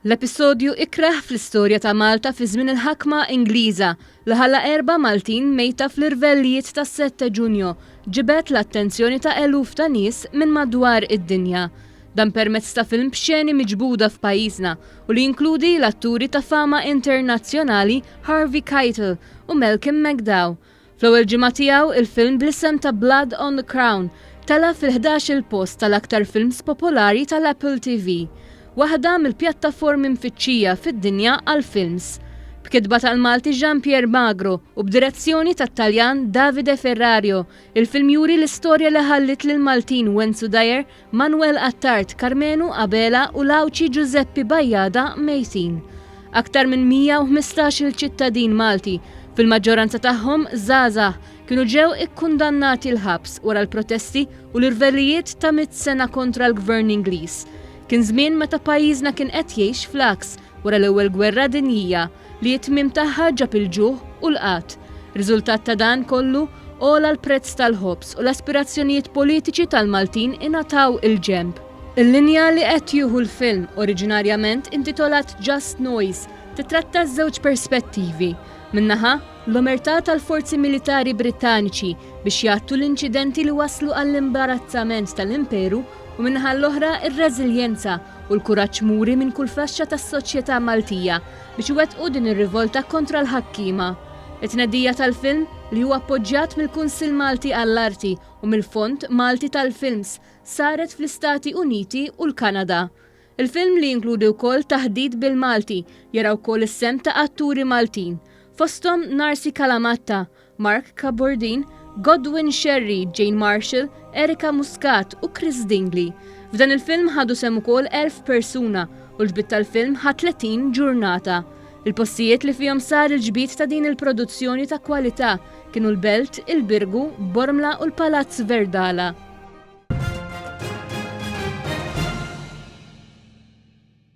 L-episodju ikrah fl-istorja ta' Malta fi żmien il-ħakma Ingliża li ħalla erba' Maltin mejta fl-irvellijiet tas-sette Ġunju ġibed l-attenzjoni ta' eluf ta' nies minn madwar id-dinja. Dan permezz ta' film b'xeni miġbuda f'pajjiżna u li jinkludi l-atturi ta' fama internazzjonali Harvey Keitel u Malcolm McDowell Fl-ewwel ġimgħa tiegħu, il-film bl-isem ta' Blood on the Crown tela' fil-ħdax-il post tal-aktar films popolari tal-Apple TV, waħda mill-pjattaformi mfittxija fid-dinja għall-films. B'kitba tal-Malti Jean Pierre Magro u b'direzzjoni tat-Taljan Davide Ferrario, il-film juri l-istorja li ħalliet lill-Maltin Wenzu Dyer Manwel Attard Karmenu Abela u l-Għawdxi Ġużeppi Bajada mejtin. Aktar minn 115-il ċittadin Malti, fil-maġġoranza tagħhom żgħażagħ, kienu ġew ikkundannati l-ħabs wara l-protesti u l-irvellijiet ta' mitt sena kontra l-Gvern Ingliż. Kien żmien meta pajjiżna kien qed jgħix fl-għaks wara l-Ewwel Gwerra Dinjija. li t-tmiem tagħha ġab il-ġuħ u l-qgħad. Riżultat ta' dan kollu, għola l-prezz tal-ħobż u l-aspirazzjonijiet politiċi tal-Maltin ingħataw il-ġenb. Il-linja li qed jieħu l-film, oriġinarjament intitolat Just Noise, tittratta ż-żewġ perspettivi, minn naħa, l-omertà tal-forzi militari Brittaniċi biex jgħattu l-inċidenti li wasslu għall-imbarazzament tal-Imperu, u min-naħa l-oħra r-reżiljenza u l-kuraġġ muri minn kull faxxa tas-soċjetà Maltija biex iwettqu din ir-rivolta kontra l-ħakkiema. It-tnedija tal-film, li hu appoġġjat mill-Kunsill Malti għall-Arti u mill-Fond Malti tal-Films, saret fl-Istati Uniti u l-Kanada. Il-film, li jinkludi wkoll taħdit bil-Malti, jara wkoll is-sehem ta' atturi Maltin, fosthom Narcy Calamatta, Mark Cabordin, Godwin Scerri, Jane Marshall, Erica Muscat u Chris Dingley. F'dan il-film ħadu sehem ukoll 1,000 persuna u l-ġbid tal-film ħa 30 ġurnata. Il-postijiet li fihom sar il-ġbid ta' din il-produzzjoni ta' kwalità kienu l-Belt, il-Birgu, Bormla u l-Palazz Verdala.